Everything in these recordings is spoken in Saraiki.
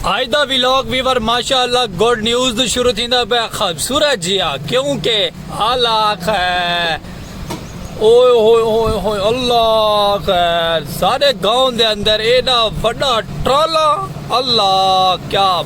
آج دا ویلوگ ویور ماشاء اللہ گوڈ نیوز دو شروع تھی دا بے خوبصورت جیا کیونکہ علاق ہے اوئے ہوئے ہوئے ہوئے اللہ خیر سارے گاؤں دے اندر ایڈا وڈا ٹرالا اللہ کیا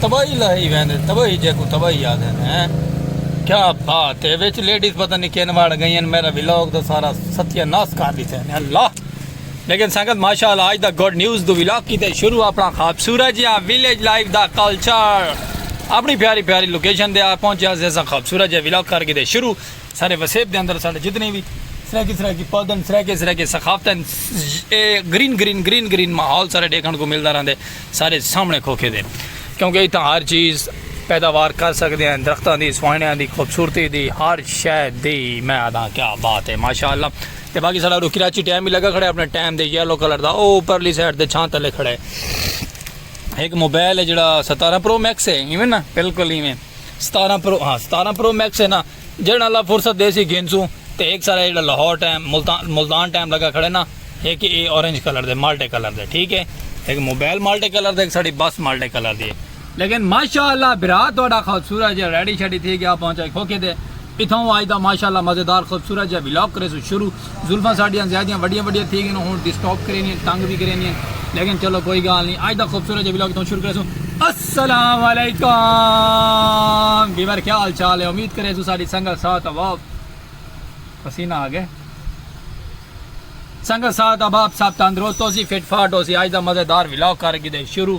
تباہی لاہی ویندے تباہی جیکوں تباہی آدھے نے کیا بات ہے وچ لیڈیز پتہ نہیں کین واڑ گئی ہیں میرا ولاگ دا سارا ستیہ ناس کر دیتے ہیں اللہ لیکن سنگت ماشاءاللہ آج دا گوڈ نیوز دو ولاگ کی تے شروع اپنا خواب سورج یا ویلیج لائف دا کلچر اپنی پیاری پیاری لوکیشن دے آ پہنچے آزیزہ خواب سورج یا ولاگ کر کی تے شروع سارے وسیب دے اندر سارے جتنے بھی سرائیکی سرائیکی پودن سرائیکی سرائیکی ثقافتن اے گرین گرین گرین گرین ماحول سارے ڈیکھن کو ملدا رہندے سارے سامنے کھوکھے دے کیونکہ اتنا ہر چیز پیداوار کر سکتے ہیں درختوں دی سوائنیاں دی خوبصورتی دی ہر شے دی میں آدھا کیا بات ہے ماشاءاللہ تے باقی سارا رو کراچی ٹائم بھی لگا کھڑے اپنے ٹائم دے یلو کلر دا او پرلی سائڈ دے چھان تلے کھڑے ایک موبائل ہے جڑا ستارہ پرو میکس ہے ایویں نا بالکل ایویں ستارہ پرو ہاں ستارہ پرو میکس ہے نا جیڑھا اللہ فرصت ڈیسی گھنسوں تے ہک سارا جیڑھا لاہور ٹائم ملتان ٹائم لگا کھڑے نا ہک اے اورنج کلر دے مالٹے کلر دے ٹھیک ہے ہک موبائل مالٹے کلر دے ہک ساڑی بس مالٹے کلر دی لیکن ماشاءاللہ برا تہاڈا خوبصورت جے ریڈی شیڈی تھی گیا پہنچائی کھوکھے دے اتھاں آج دا ماشاءاللہ مزیدار خوبصورت جے ولاگ کریسو شروع زلفاں ساڈیاں زیادیاں وڈیاں وڈیاں تھی گئین ہن ڈسٹرب کریندین تنگ وی کریندین لیکن چلو کوئی گال نی اج دا خوبصورت جے ولاگ اتھاں شروع کریسوں السلام علیکم ویور کیا حال چال ہے امید کریسوں ساڈی سنگت ساتھ احباب پسینہ آ گئے سنگت ساتھ احباب سب تندرست ہوسی فٹ فاٹ ہوسی اج دا مزیدار ولاگ کر گدے شروع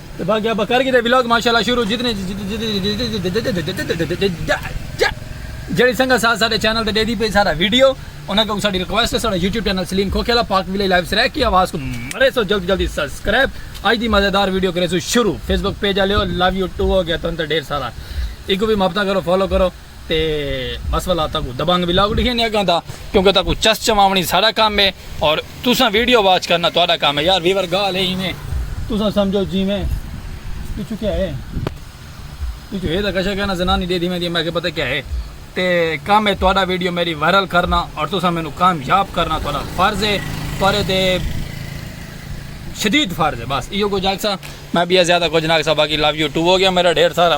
تے باقی ابا کر گدے ولاگ ماشاءاللہ شروع جتنے جڑی سنگا ساتھ ساڈے چینل تے دیدی پے سارا ویڈیو انہاں کو ساڈی ریکویسٹ ہے ساڈا یوٹیوب چینل سلیم کھوکھیلا پاک ویلے لائیو سرے کی آواز کو مرے سو جلدی جلدی سبسکرائب اج دی مزیدار ویڈیو کرے سو شروع Facebook page الیو love you too ہو گیا تن تے ڈھیر سارا ایکو بھی محبتاں کرو فالو کرو تے بس والا تاکو دبنگ ولاگ ڈیکھے نہیں اگاں دا کیونکہ تاکو چس چماونی سارا کام ہے اور تساں ویڈیو واچ کرنا تہاڈا کام ہے یار ویور گال ہے ایویں تساں سمجھو جیویں پچھو کیا ہے پچھو ہے تا کشا کہنا زنانی دے دی میں دی میں کہ پتہ کیا ہے تے کام ہے تہاڈا ویڈیو میری وائرل کرنا اور تساں مینوں کامیاب کرنا تہاڈا فرض ہے تہاڈے تے شدید فرض ہے بس ایو کو جاگ سا میں بھی زیادہ کچھ نہ سا باقی لو یو ٹو ہو گیا میرا ڈھیر سارا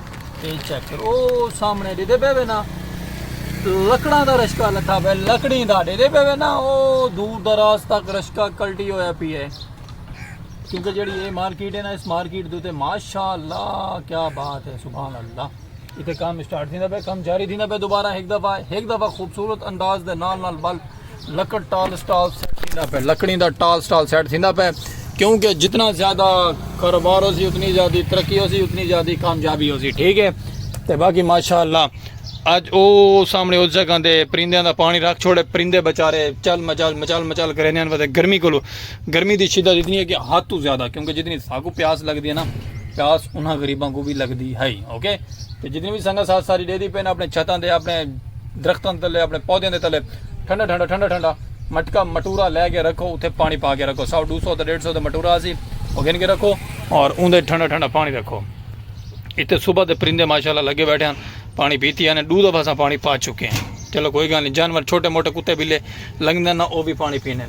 اے چیک کرو او سامنے ڈیدے پے وے نا لکڑاں دا رشکا لتھا پے لکڑی دا ڈیدے پے وے نا او دور دراز تک رشکا کلٹی ہویا پی ہے کیونکہ جڑی اے مارکیٹ ہے نا اس مارکیٹ دے تے ماشاءاللہ کیا بات ہے سبحان اللہ ایتھے کام سٹارٹ تھیندا پے کام جاری تھیندا پے دوبارہ ایک دفعہ ایک دفعہ خوبصورت انداز دے نال نال بل لکڑ ٹال سٹال سیٹ تھیندا پہ لکڑی دا ٹال سٹال سیٹ تھیندا پہ کیونکہ جتنا زیادہ کاروبار ہو سی اتنی زیادہ ترقی ہو سی اتنی زیادہ کامیابی ہو سی ٹھیک ہے تے باقی ماشاءاللہ اج او سامنے اس جگہ دے پرندے دا پانی رکھ چھوڑے پرندے بچارے چل مچل مچل مچل کرے نے وجہ گرمی کولو گرمی دی شدت اتنی ہے کہ ہاتھ تو زیادہ کیونکہ جتنی ساگو پیاس لگ دی ہے نا پیاس انہاں غریباں کو بھی لگ دی ہے اوکے تے جتنی بھی سنگت ساتھ ساری دے دی پہ اپنے چھتاں دے اپنے درختاں دے تلے اپݨے پودیاں دے تلے ٹھنڈا ٹھنڈا ٹھنڈا ٹھنڈا مٹکا مٹورا لے کے رکھو اتھے پانی پا کے رکھو سو ڈو سو تے ڈیڑھ سو دا مٹورا اسی او گھن کے رکھو اور اون دے ٹھنڈا ٹھنڈا پانی رکھو اتھے صبح دے پرندے ماشاءاللہ لگے بیٹھے ہیں پانی پیتی ہیں ڈو دفعہ اساں پانی پا چکے ہیں چلو کوئی گل نہیں جانور چھوٹے موٹے کتے بلے لنگدے نہ او بھی پانی پینے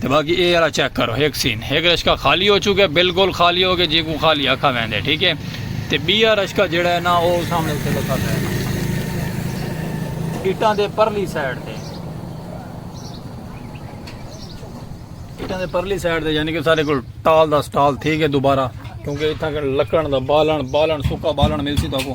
تے باقی اے والا چیک کرو ہک سین ہک رشکا خالی ہو چکے بالکل خالی ہو گئے جی کو خالی آکھا ویندے ٹھیک ہے تے بیا رشکا جڑا ہے نا او سامنے تے لکھا ہے اٹاں دے پرلی سائیڈ تے اٹاں دے پرلی سائیڈ تے یعنی کہ سارے کول ٹال دا سٹال تھی گئے دوبارہ کیونکہ اتھاں لکڑن دا بالن بالن سکا بالن ملسی تو کو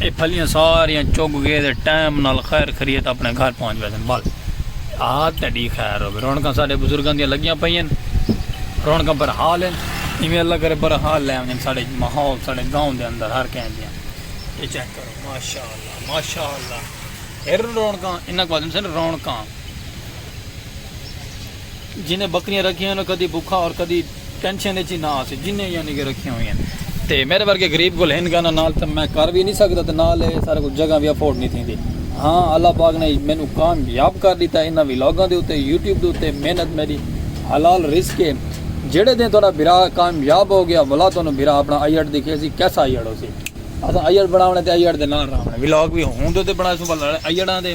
اے پھلیاں ساریاں چگ گئے تے ٹائم نال خیر خریت اپنے گھر پہنچ ویسن بس آہت تیڈی خیر ہوے رونکاں ساڈے بزرگاں دیاں لگیاں پئین رونکاں پر حال ہیں ایویں اللہ کرے پر حال لے آویں ساڈے ماحول ساڈے گاؤں دے اندر ہر کہیں دیاں اے چیک کرو ماشاءاللہ ماشاءاللہ ہر رونکاں انہاں کو آدم سن رونکاں جنہیں بکریاں رکھیاں ہوئن او کدی بکھا اور کدی ٹینشن اچ ہی نہ آسی جنہیں یعنی کہ رکھیاں ہوئن تے میرے ورگے غریب کول ہن گانا نال تے میں کر وی نی سکدا تے نال اے سارے کول جگہ وی افورڈ نی تھیندی ہاں اللہ پاک نے مینوں کام یاب کر ڈیتا انہاں ولاگاں دے اتے یوٹیوب دے اتے محنت میڈی حلال رزق اے جیڑھے دن تہاڈا بھرا کام یاب ہو گیا ولا تہانوں بھرا اپنا ایڈ دکھیسی کیسا ایڈ ہوسی اساں ایڈ بناونے تے ایڈ دے نال رہونڑے ولاگ وی ہوندے تے بنائیسوں بل ایڈاں دے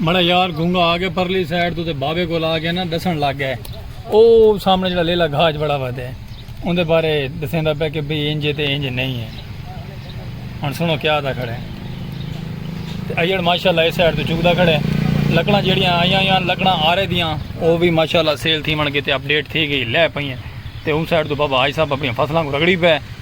مڑا یار گونگا آ گیا پرلی سائڈ تو تے بابے کو لا گیا نا دسن لگ گئے او سامنے جڑا لیلا گھاج بڑا ودے ہے ان دے بارے دسیں دا پہ کہ بھئی انجے تے انجے نہیں ہے ہن سنو کیا دا کھڑے تے ایڑ ماشاءاللہ اس سائڈ تو چک دا کھڑے لکڑاں جڑیاں آیاں یا لکڑاں آ رہے دیاں او بھی ماشاءاللہ سیل تھی من کے تے اپ ڈیٹ تھی گئی لے پئیں تے ان سائڈ تو بابا آج صاحب اپنی فصلاں کو رگڑی پے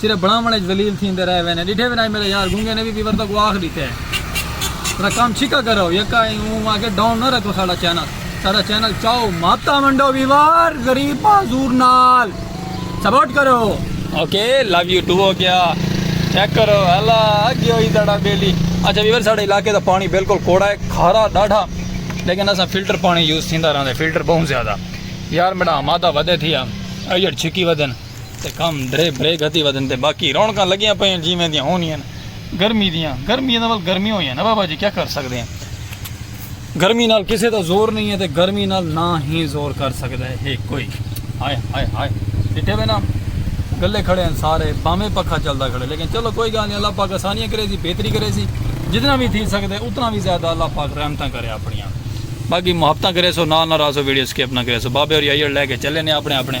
صرف بناون اچ ذلیل تھیندے رہ وینے ڈٹھے وی نائی میڈا یار گونگے نے وی پیور تکوں آکھ ڈتے تیرا کم چھکا کرو یکا ای اوں آ کے ڈاؤن نہ رکھو ساڈا چینل ساڈا چینل چاؤ ماتا ونڈو ویوار غریب معذور نال سپورٹ کرو اوکے لو یو ٹو ہو گیا چیک کرو الا اگی ہوئی دڑا بیلی اچھا ویور ساڈے علاقے دا پانی بالکل کوڑا ہے کھارا ڈاڈھا لیکن اسا فلٹر پانی یوز تھیندا رہندا فلٹر بہت زیادہ یار میڈا ماتا ودے تھیا ایڈ چھکی ودن تے کم دھرے بھرے گھتی ودھن تے باقی رونقاں لگیاں پئین جیں ویندیاں ہونیاں ہن گرمی دیاں گرمی دا ول گرمی ہویاں نا بابا جی کیا کر سکدے ہیں گرمی نال کسے دا زور نہیں ہے تے گرمی نال نہ ہی زور کر سکدا ہے کوئی ہائے ہائے ہائے ڈٹھے وے نا گلے کھڑے ہیں سارے بامے پکھا چلدا کھڑے لیکن چلو کوئی گل نہیں اللہ پاک آسانیاں کرے سی بہتری کرے سی جتنا بھی تھی سکدے اتنا بھی زیادہ اللہ پاک رحمتاں کرے اپنیاں باقی محبتاں کرے سو نال نہ راسو ویڈیو سکپ نہ کرے سو بابے اور یہی لے کے چلے نے اپنے اپنے